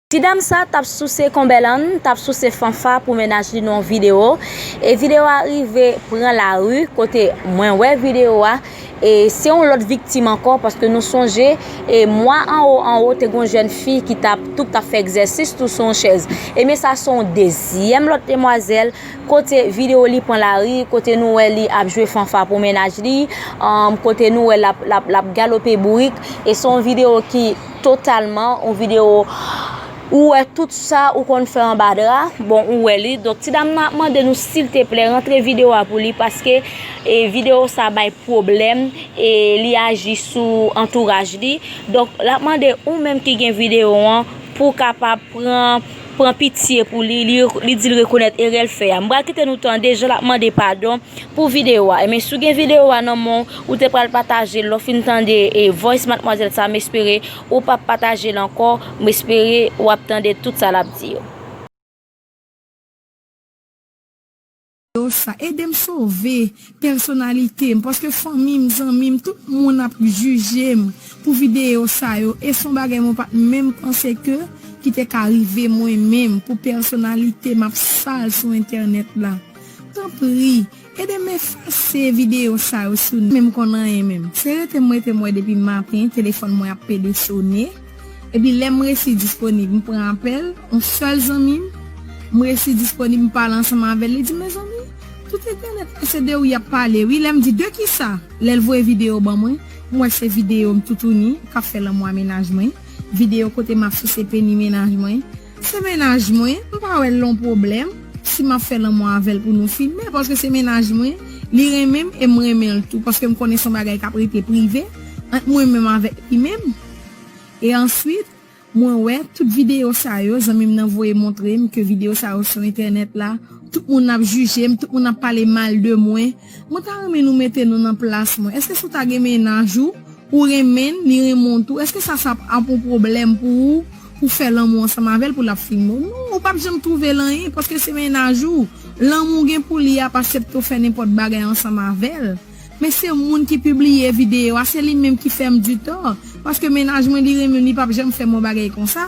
Ti dam sa tap souse konbèlann, tap souse fanfa pou mennaj li nan yon video, e video a rive pran lari kote mwen wè video a, e se yon lòt viktim ankò paske nou sonje e mwa anwo anwo te gen yon jèn fi ki tap tou tap fè egzèsis tou sou yon chèz, ebyen sa se yon dezyèm lòt demwazèl kote video li pran lari kote nou wè li ap jwe fanfa pou mennaj li, kote nou wè lap galope bourik, e se yon video ki. totalman yon video ou wè tout sa ou konn fè anba dra, bon ou wè li, donk ti dam nan ap mande nou silteplè rantre video a pou li paske e video sa bay pwoblèm e li aji sou antouraj li, donk lap mande ou menm ki gen video an pou kapab pran. pran pitye pou li, li dil rekonèt erèl fè a. M pral kite nou tande jan lap mande padon pou video a. Ebyen si w gen video a nan menw, ou te pral patajel lè w fin tande e voice matmwazèl sa m espere ou pap patajel ankò, m espere wap tande tout sa lap di yo. Video sa edem sove pèsonalitem paske fanmim zanmim tout moun ap jujem pou video sa yo e son bagay mwen pat menm panse ke ki te ka rive mwen menm pou pèsonalitem ap sal sou entènèt la tanpri edem efase video sa yo sou menm konn anyen menm se rete m rete m wè depi maten telefòn mwen ap pede sone. Epi lè m resi disponib m pran apèl on sèl zanmi m, m resi disponib m pale ansanm avè l, li di mezanmi tout entènèt la se de ou y ap pale wi, lè m di de kisa, lè l voye videyo ban mwen, m wè se videyo m toutouni k ap fè lanmou a mennaj mwen, videyo kote m ap souse peni mennaj mwen, se mennaj mwen m pa wè l on pwoblèm si m ap fè lanmou avè l pou nou filme paske se mennaj mwen, li renmen m e m renmen l tou paske m konnen s on bagay k ap rete prive ant mwen menm avèk li menm. E answit Mwen wè tout video sa yo zanmim nan voye montrem ke video sa yo sou entènèt la tout moun ap jijem tout moun ap pale mal de mwen mwen ta renmen nou mete nou nan plas mwen eske si w ta gen mennaj ou ou renmenn li renmen w tou eske sa sa ap yon pwoblèm pou ou pou fè lanmou ansanm avèl pou lap fin renmen w non ou pap janm twouvel anyen paske se mennaj ou lanmou w gen pou li a pa septe w fè nenpòt bagay ansanm avèl. Men se moun ki pibliye video a se li menm ki fèm du tort paske mennaj mwen li renmenm li pap janm fèm yon bagay konsa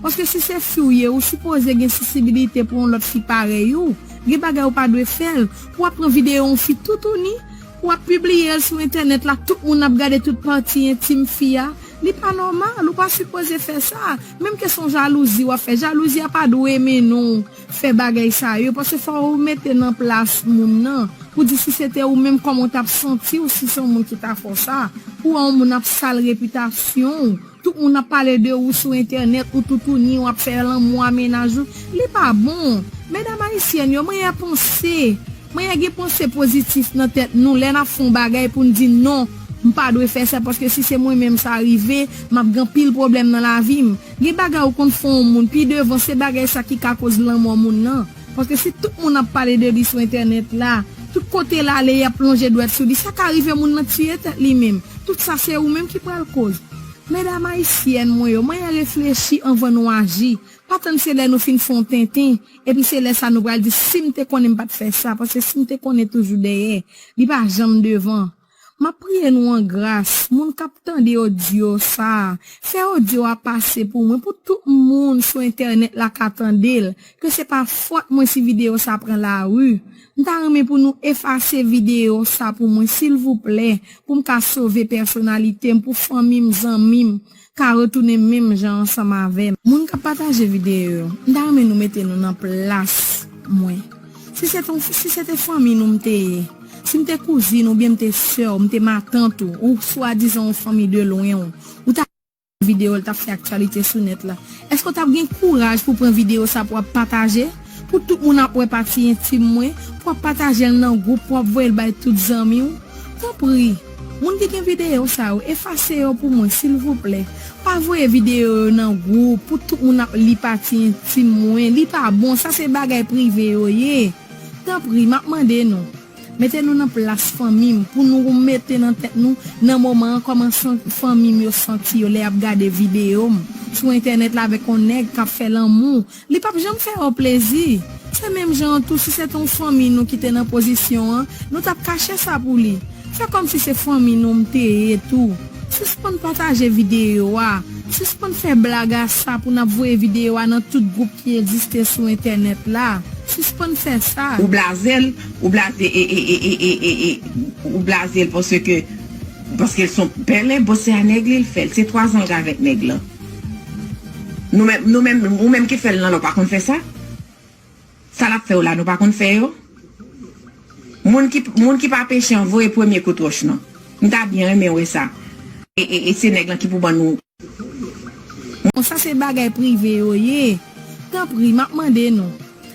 paske si se fi w ye ou sipoze gen sisibilite pou yon lòt fi parèy ou gen bagay ou pa dwe fèl pou ap pran video yon fi toutouni pou ap pibliyel sou entènèt la tout moun ap gade tout pati entim fi a li pa nòmal ou pa sipoze fè sa menm ke son jalouzi wap fè jalouzi a pa dwe mennen w fè bagay sa yo paske fò ou mete nan plas moun nan pou di si se te ou menm kòman ou tap santiw si se yon moun ki ta fè w sa pou wè yon moun ap sal repitasyon w tout moun ap pale de ou sou entènèt ou toutouni wap fè lanmou a mennaj ou li pa bon medam ayisyèn yo manyè panse manyè gen panse pozitif nan tèt nou lè nap fè yon bagay poun di non m pa dwe fè sa paske si se mwen menm sa rive map gen anpil pwoblèm nan lavi m. Gen bagay ou konn fè yon moun pi devan se bagay sa ki ka koz lanmò moun lan, paske si tout moun ap pale de li sou entènèt la, tout kote l ale yap lonje dwèt sou li sa ka rive moun lan tiye tèt li menm, tout sa se ou menm ki pral koz. Medam ayisyèn mwen yo manyen reflechi anvan nou aji, pa tann se lè nou fin fè yon tenten epi se lè sa nou pral di sim te konnen m pat fè sa, paske sim te konnen toujou dèyè, li pa janm devan. Map priye nou an gras moun kap tande odyo sa fè odyo a pase pou mwen pou tout moun sou entènèt la ka tandel ke se pa fòt mwen si video sa pran lari m ta renmen pou nou efase video sa pou mwen silvouplè poum ka sove pèsonalitem pou fanmim zanmim ka retounen menm jan ansanm avèm. Moun kap pataje video yo m ta renmen nou mete nou nan plas mwen si se ton si se te fanmi nou m te ye si m te kouzin oubyen m te sè w m te matant ou ou swadizan yon fanmi de lwen w ou ta video l tap fè aktyalite sou nèt la èske w tap gen kouraj pou pran video sa pou ap pataje Pou tout moun ap wè pati entim mwen, pou wap patajel nan group, pou wap voyel bay tout zanmiw. Tanpri, moun ki gen video sa yo efase yo pou mwen silvouplè. Pa voye video yo nan group pou tout moun ap li pati entim mwen, li pa bon, sa se bagay prive yo ye. Tanpri, map mande nou, mete nou nan plas fanmim pou nou mete nan tèt nou nan moman an koman fanmim yo santi yo lè yap gade videom sou entènèt la avèk yon nèg kap fè lanmou Li pap janm fè yo plezi. Se menm jan an tou si se te yon fanmi nou ki te nan pozisyon an, nou tap kache sa pou li. Fè kòm si se fanmi nou m te ye tou. Sispann pataje videyo a. Sispann fè blag a sa pou nap voye videyo a nan tout gwoup ki egziste sou entènèt la. Sispann fè sa. Ou blaze l, ou blaze e e e e e e e ou blaze l paske paske l son pèlen bon se a nèg li l fè l se 3 zan l k avèk nèg lan. Nou menm nou menm ou menm ki fèl nan la ou pa konn fè sa? Sa lap fè yo la nou pa konn fè yo? Moun ki moun ki pa peche an voye premye kout wòch non. M ta byen renmen wè sa. E se nèg lan ki pou ban nou. Bon sa se bagay prive yo ye tanpri map mande nou.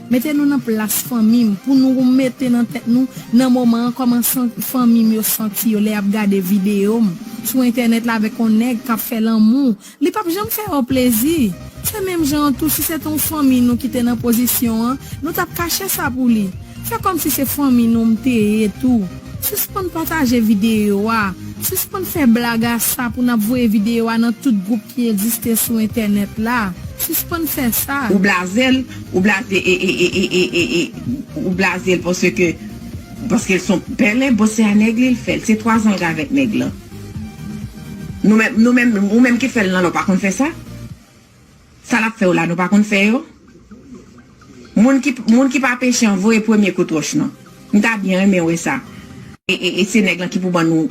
Mete nou nan plas fanmi m pou nou mete nan tèt nou nan moman an kòman fanmi m yo santi yo lè y ap gade videyo m sou entènèt la avèk yon nèg k ap fè lanmou. Li p ap janm fè yo plezi. Se menm jan an tou si se te yon fanmi nou ki te nan pozisyon an, nou t ap kache sa pou li. Fè kòmsi se fanmi nou m te ye tou. Sispann pataje videyo a. Sispann fè blag a sa pou nap voye videyo a nan tout group ki egziste sou entènèt la. Sispann fè sa. Ou blazel ou blaze e e e e e e ou blazel paske paske l son pèlen bon se a nèg li l fèl se 3 zan l gavèk nèg lan nou menm nou menm ou menm ki fèl nan la ou pa konn fè sa. Sa nap fè yo la nou pa konn fè yo moun ki moun ki pa peche an voye premye kout wòch non m ta byen renmen wè sa. E se nèg lan ki pou ban nou.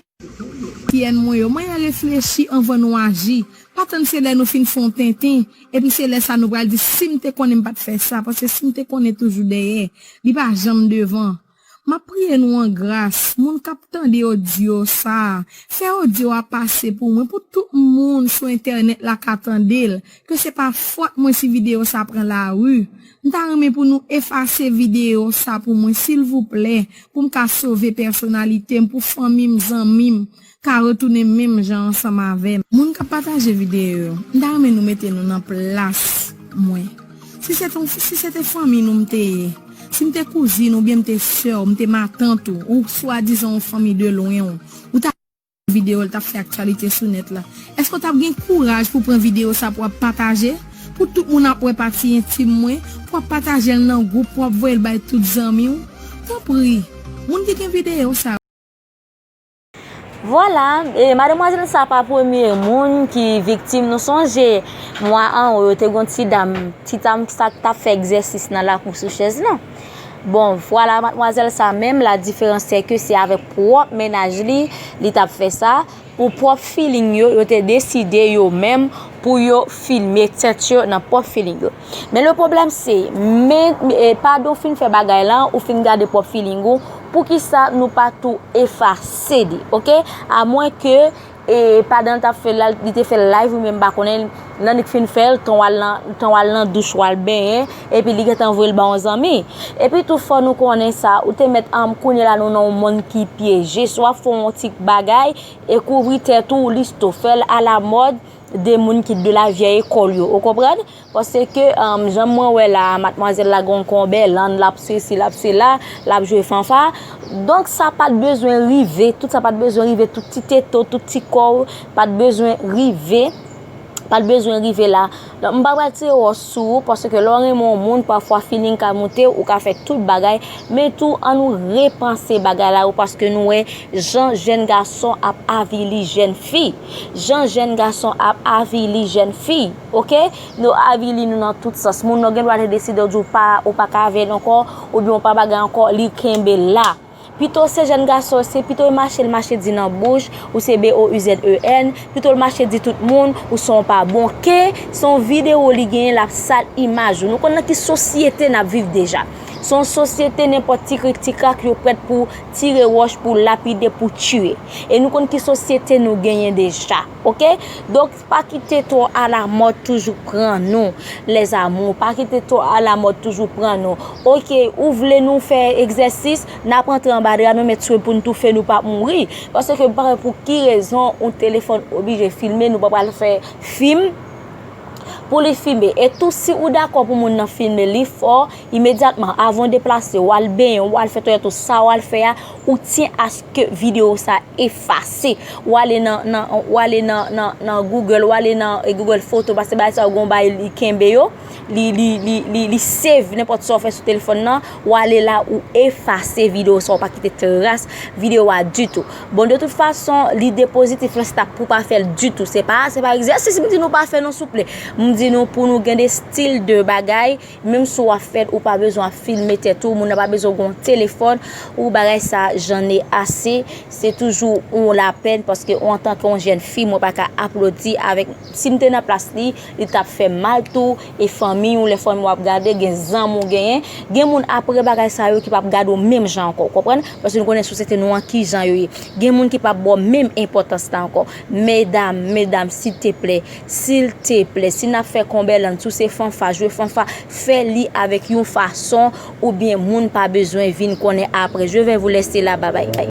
Pyèn mwen yo, manyen reflechi anvan nou aji. Pa tann se lè nou fin fè yon tenten, epi se lè sa nou pral di si m te konnen m pat fè sa, paske si m te konnen toujou dèyè, li pa janm devan. Map priye nou an gras moun kap tande odyo sa fè odyo a pase pou mwen pou tout moun sou entènèt la ka tandel ke se pa fòt mwen si video sa pran lari m ta renmen pou nou efase video sa pou mwen silvouplè poum ka sove pèsonalitem pou fanmim zanmim ka retounen menm jan ansanm avèm. Moun kap pataje video yo m ta renmen nou mete nou nan plas mwen si se ton si se te fanmiy nou m te ye si m te kouzin oubyen m te sè w m te matant ou ou swadizan yon fanmiy de lwen w ou ta gade video l tap fè aktyalite sou nèt la èske w tap gen kouraj pou pran video sa pou ap pataje pou tout moun ap wè pati entim mwen pou ap pataje l nan gwoup pou ap voye l bay tout zanmi w tanpri moun ki gen video sa. Vwala, e mademwazèl sa pa premye moun ki viktim, nou sonje mwa an ou yo te gon ti dam, ti dam sa k tap fè egzèsis nan lakou sou chèz lan. Bon, vwala mademwazèl sa menm la diferans se ke se avèk pwòp mennaj li, li tap fè sa, pou pwòp filing yo, yo te deside yo menm pou yo filme tèt yo nan pwòp filing yo. Men le problem se, men padon fin fè bagay la, ou fin gade pwop feeling ou, pou ki sa nou pa tou efase li, ok? A mwen ke, e padon l tap fè la, li te fè live ou men mba konnen, nan li k fin fè l, tan w al nan douch w al benyen, e pi li gen tan voye l ba yon zanmi. E pi tou fò nou konnen sa, ou te met an, kounye la nou nan yon moun ki pyeje, swa fon yon ti bagay, e kouvri tèt ou, li sto fè l a la mòd, de moun ki de la vyèy ekòl yo, ou konprann? Pase ke, jan mwen wè la, matmwazèl la gon konbè, lan l ap sesi, l ap sela, l ap jwe fanfa. Donk sa pa t bezwen rive, tout sa pa t bezwen rive, tout ti tete, tout ti kò, pa t bezwen rive, pa t bezwen rive la. Donk m pa pral tire wò sou ou, pase ke lè w renmen yon moun, pafwa feeling ka moute w, ou ka fè tout bagay. Men tou, an nou repanse bagay la yo, paske nou wè jan jèn gason ap avili jèn fi. Jan jèn gason ap avili jèn fi ok yo avili nou nan tout sans moun nan gen dwa te deside di w pa ou pa ka avèl ankò oubyen ou pa bagay ankò li kenbe la pito se jèn gason se pito l mache l mache di nan bouch ou se BOUZEN pito l mache di tout moun ou se yon pa bon ke se yon videwo li genyen l ap sal imaj ou nou konn nan ki sosyete n ap viv deja se yon sosyete nenpòt ti krik ti krak yo prèt pou tire wòch pou lapide pou tiye. e nou konn ki sosyete nou genyen deja ok donk pa kite twò alamòd toujou pran nou lèzamou pa kite twò alamòd toujou pran nou ok ou vle nou fè egzèsis nap antre anba dra nou met swen poun toufe nou pap mouri paske m pa wè pou ki rezon yon telefòn oblije filme nou pa pral fè fim pou li filme e tou si ou dakò pou moun nan filme li fò. Imedyatman avan w deplase w al benyen w al fè toilèt ou sa w al fè a ou tyen aske video sa efase w ale nan w ale nan google w ale nan google photo paske bagay sa yo gen yon bagay li kenbe yo li li li li save nenpòt sa w fè sou telefòn nan w ale la ou efase video sa w pa kite tras video a ditou bon de tout fason lide pozitif lan se ta pou w pa fè l ditou se pa se pa egzèsis m di nou pa fè non souple m di nou pou nou gen de stil de bagay Menm si w ap fèt ou pa bezwen ap filme tèt ou moun nan pa bezwen w gen yon telefòn ou bagay sa j'en ai ase se toujou yon lapèn paske ou antanke yon jèn fi mwen pa ka aplodi avèk si m te nan plas li li t ap fè m mal tou e fanmiy ou lè fanmiy ou ap gade gen zanmi ou genyen gen moun aprè bagay sa yo ki p ap gade w menm jan ankò ou konprann paske nou konnen sosyete nou an kijan yo ye gen moun ki p ap ba w menm enpòtans la ankò medam medam silteplè Silteple, si nap fè Konbèland, si w se fanfa, jwe fanfa, fè li avèk yon fason ou byen moun pa bezwen vin konnen apre. Je vè vou lèse la, babayy.